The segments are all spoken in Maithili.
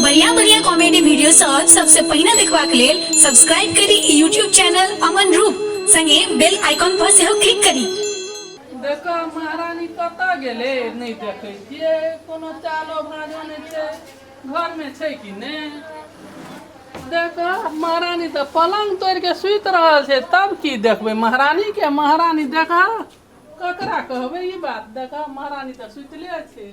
बढ़िया बढ़िया कॉमेडी वीडियो सब सबसे पहिने देखबाक लेल सब्सक्राइब करी ई यूट्यूब चैनल अमन रूप संगे बेल आइकॉन पर सेहो क्लिक करी देखऽ महारानी कतऽ गेलै नहि देखै छियै कोनो चालो भाजो नहि छै घरमे छै कि नहि देखऽ महारानी तऽ पलङ्ग तोड़ि कऽ सुति रहल छै तब की देखबै महारानीके महारानी देखऽ ककरा कहबै ई बात देखऽ महारानी तऽ सुतले छै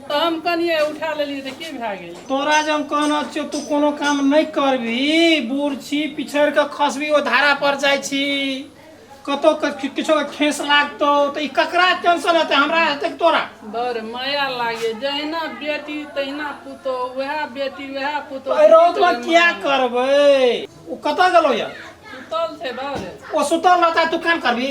तऽ हम कनिए उठा लेलियै तऽ की भए गेल तोरा जे हम कहना छियौ तू कोनो काम नहि करबही बूढ़ छी पिछड़ कऽ खसबी ओ धारा पर जाइ छी कतौ किछो के खेस लागतो तऽ ई ककरा टेंशन हेतै हमरा हेतै कि तोरा बड़ माया लागे जहिना बेटी तहिना पुतो वएह बेटी वएह पुतो अरे रौत में क्या करबै ओ कतऽ गेलो या सुतल छै बाबे ओ सुतल रहता तू काम करबी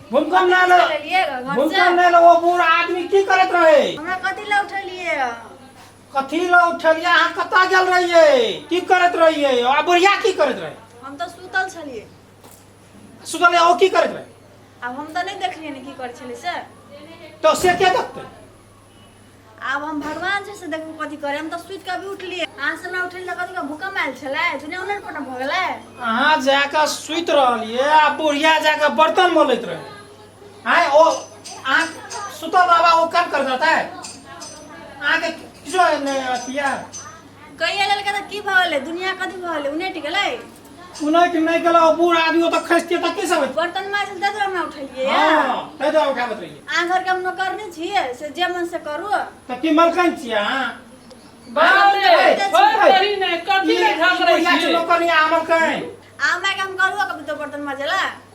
भूकंप ना लो चलिए घर से भूकंप ना लो वो बूढ़ा आदमी की करत रहे हमरा कथी ला उठलिए कथी लो उठलिया अहाँ कतऽ गेल रहिए की करत रहिए आ बुढ़िया की करत रहे हम तो सुतल छलिए सुतल ओ की करत रहे अब हम तो नहीं देखलिए ने की करे छले से तो से के देखते आब हम भगवान छै से देखू कथी करे हम तऽ सुति कऽ भी उठलियै अहाँ से हमरा उठल तऽ कथी भूकंप आयल छलै दुनिया उलट पटम भऽ गेलै अहाँ जाकऽ सुति रहलियै आ बुढ़िया जाकऽ बर्तन मलैत रहै आय ओ अहाँ सुतल रहबा ओ काम कर देतै अहाँके किछो नहि अथी यऽ कहिए लेलकै तऽ की भऽ गेलै दुनिया कथी भऽ गेलै उनटि गेलै सुनैत नहि गेलौ बूढ़ आदमी ओतऽ खसितियै तऽ की सब होइत बर्तन माजल तै दुआरे हमरा उठेलियै हँ तै दुआरे उठाबैत रहियै अहाँ घरके हम नौकर नहि छियै से जे मन से करू तऽ की मलकन छियै अहाँ बाप रे छोड़ करी ने कथी ले झगड़ै छियै नौकर या मलकन आ हमरा के हम करू कभी तो बर्तन माजेला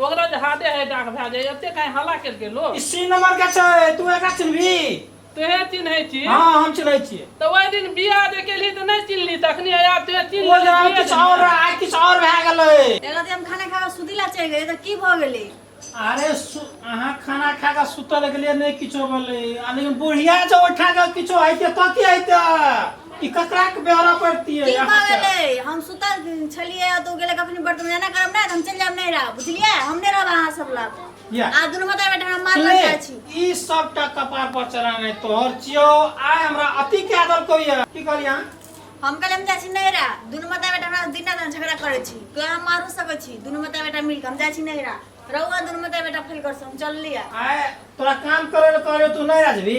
ओकरा जे हादे है डाक भए जाए एते कहीं हल्ला केलकै लोग ई सी नंबर के छै तू एकरा चिन्हबी तोहे चिन्है छी हँ हम चिन्है छियै तऽ ओहि दिन बियाह जे केलही तऽ नहि चिन्हली तखनी आब तोहे चिन्ह ओ जरा लेलही। किछु और रहै, आइ किछु और भए गेलै एक राति हम खाना खा कऽ सुति ला चलि गेलियै तऽ की भऽ गेलै अरे सु- अहाँ खाना खा कऽ सुतल गेलियै नहि किछो भेलै आ लेकिन बुढ़िया जे ओठा कऽ किछो हेतै तऽ की हेतै ई ककराके ब्यौरा पड़तियै की अहाँके? कहले हम सुतल छलिए आ तू गेले कखनी बर्तन एना करब ना त हम चल जाब नहीं रहा बुझलिए हम नहीं रहब अहाँ सब लग या। आ दुनू माता बेटा हम मार ले, लग जाइ छी ई सबटा कपार पर चढ़ाने तोहर चियो आय हमरा अति के आदर कोई है की कहलियै अहाँ? हम कहले हम जाइ छी नहीं रहा दुनू माता बेटा हमरा दिन रात झगड़ा करे छी तो हम मारू सकै छी दुनू माता बेटा मिल के हम जाइ छी नहीं रहा रहुआ दुनू माता बेटा फैल कर हम चल लिया आय तोरा काम करे ले कहलियो तू नहीं राजबी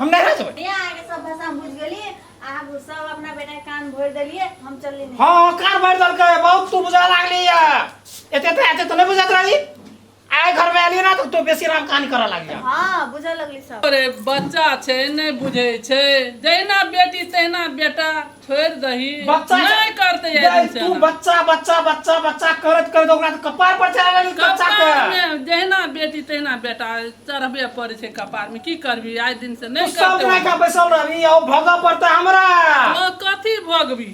हम नहीं रह सकते यहाँ आके सब भाषा हम बुझ गली आप सब अपना बेटा के कान भर देलिए हम चलली नहीं हाँ हाँ कान भर दल के बहुत तू बुझा लागली या एते तो एते तो नहीं बुझात रही आए घर में आली ना तो तू बेसी राम कहानी करा लागली या। हाँ बुझा लगली सब अरे बच्चा छै नहि बुझै छै जहिना बेटी तहिना बेटा छोड़ि दही बच्चा नहि करतै गै, एहन तू चलन। बच्चा बच्चा बच्चा बच्चा करत करत ओकरा तऽ कपार पर चढ़ा लेली बच्चा के कपारमे जहिना बेटी तहिना बेटा चढ़बे पड़ै छै कपारमे की करबी आइ दिन से तू नहि सब करतै माय का बैसल रहबी आ ओ भगऽ पड़तै हमरा ओ कथी भोगबी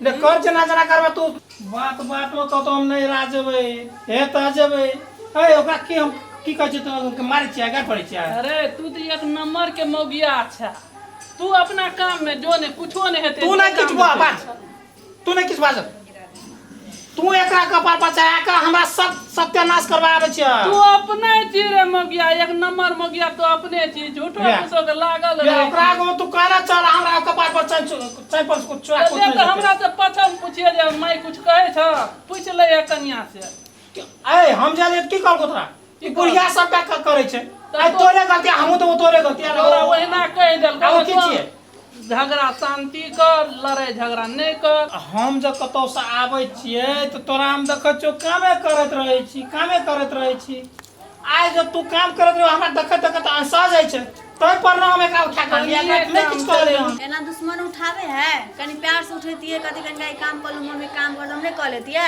ले कर जेना जेना करबे तू बात बाटो तो तो हम नहीं रा जेबै हे तऽ जेबै ए ओकरा की हम की कहै छै तो मारै छियै गाय पड़ै छियै अरे तू तऽ एक नंबर के मौगिया अच्छा तू अपना काम में जो ने कुछो ने हेते तू नहीं किछु बाज तू नहीं किछु बाज तू एकरा कपार पर चढ़ा के हमरा सब सत्यानाश करवा आबे छ तू अपने छी रे मगिया एक नंबर मगिया तो अपने छी झूठो कुछो के लागल रे ओकरा को तू कहना चल हमरा कपार पर चढ़ चढ़ पर कुछ चढ़ा कुछ हमरा से पछम पूछिए जे माई कुछ कहे छ पूछ ले कन्या से ए हम जाने की कर को तोरा ई बुढ़िया सब का क- करे छै आ तोरे गलती हमहू तो तोरे गलती आ तोरा ओहिना कहि देल आउ की छियै झगड़ा शांति कर लड़ाई झगड़ा नहीं कर हम जब कतौ से आबै छियै तऽ तोरा हम देखै छियौ कामे करैत रहै छी कामे करैत रहै छी आइ जब तू काम करैत रहो हमरा देखैत देखैत अनसा जाइ छै ताहि पर ने हम एकरा उठा कऽ लिया एकरा नहि किछु कऽ लेलियै हम एना दुश्मन उठावे है कनी प्यार से उठेतिए कथी कनिका ई काम कर लू मम्मी काम कर लू हम नहीं कह लेतिए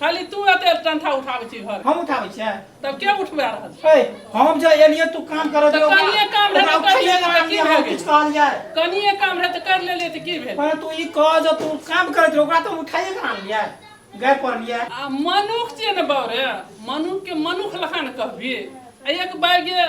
खाली तू एते डंठा उठाबै छी घर हम उठाबै छियै तब के उठबा रहल छै ए, हम जे एलियै तू काम करऽ तऽ दियौ कनिये काम रहै तऽ करिये लेबै, काम की दियौ, भए हम गेल? किछु कहल जाय कनिए काम रहै तऽ कर लेलियै तऽ की भेल पर तू ई कह जे तू काम करैत रह ओकरा तऽ उठाइए के आनलियै गए पड़लियै आ मनुख छियै ने बाबरे मनुख के मनुख लखन कहबी आ एक बाइगे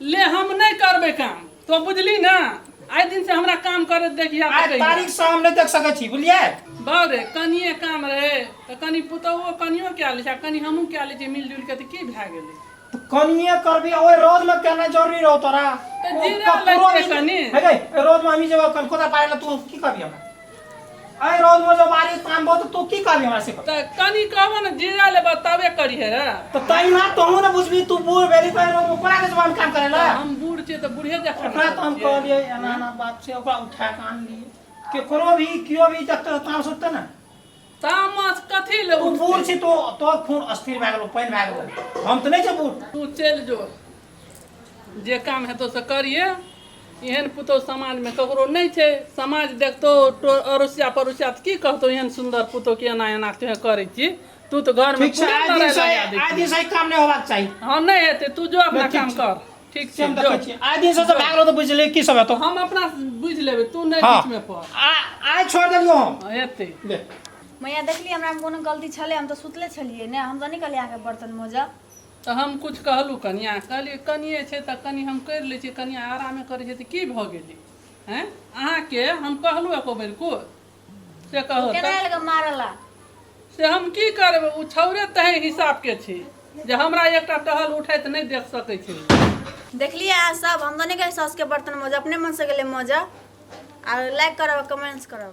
ले हम नहीं करबे काम तो बुझली ना आइ दिन से हमरा काम करे देखिया आज तारीख से हम नहीं देख सके छी बुझलिए बाउ रे कनिए काम रहे तो कनी पुतौओ कनियो क्या ले कनी हमहूँ क्या ले मिलजुल के तो की भए गेलै तो कनिए करबी ओए रोज में कहना जरूरी रहो तोरा तो जीरा लग के कनी रोज में हम ही जब कलकत्ता पाए तू की करबी हमरा अरे रोज में जो मारी तांबो तो तू की करबी हमरा से कह? त कनी कहबो न जीरा ले बतावे करी है रे तो तई ना तोहू ना बुझबी तू बूढ़ भेली तई रोज में कोना के जवान काम करेला हम बूढ़ छियै त बूढ़े जखन ओकरा तो हम कहलिए एना एना बात से ओकरा उठा के आन लिए केकरो भी कियो भी जब तक तांब सुतते ना तामस कथी ले तू बूढ़ छी तो तोर खून अस्थिर भए गेलो पानि भए गेलो हम तऽ नहि छै बूढ़ तू चलि जो जे काम हेतौ से करिए एहन पुतहु समाजमे ककरो नहि छै समाज देखतौ टो अड़ोसिया पड़ोसिया तऽ की कहतौ एहन सुन्दर पुतहु के एना एना तोहे करै छी तू तऽ घरमे ठीक छै पूरा आइ लड़ाइ दिनसँ लगा दै आइ छी। दिनसँ ई काम नहि होबाक चाही हँ नहि हेतै तू जो अपना ठीक काम छै। कर ठीक से छै हम जो। देखै छियै आइ दिन से सब भए गेलो तऽ बुझले की सब हेतौ हम अपना से बुझि लेबै तू नहि हाँ। बीच में पड़ आ आइ छोड़ देलियो हम हाँ, एते ले मैया देखली हमरा में कोनो गलती छले हम तो सुतले छलिए ने हम तो नहीं कहलिए आके बर्तन मोजा तऽ हम कुछ कहलहुँ कनिया कहलियै कनिये छै तऽ कनि हम करि लै छियै कनिया आरामे करै छै तऽ की भऽ गेलै हैं अहाँके हम कहलहुँ एको बेर कुछ से कहू तऽ। केना एलकै मारऽ ला से हम की करबै ओ छौड़े तेहन हिसाबके छै जे हमरा एकटा टहल उठैत नहि देख सकै छै देखलियै अहाँ सब हम तऽ नहि गेलियै सासुके बर्तन मजऽ अपने मनसँ गेलै मजऽ आ लाइक करब कमेंट्स करब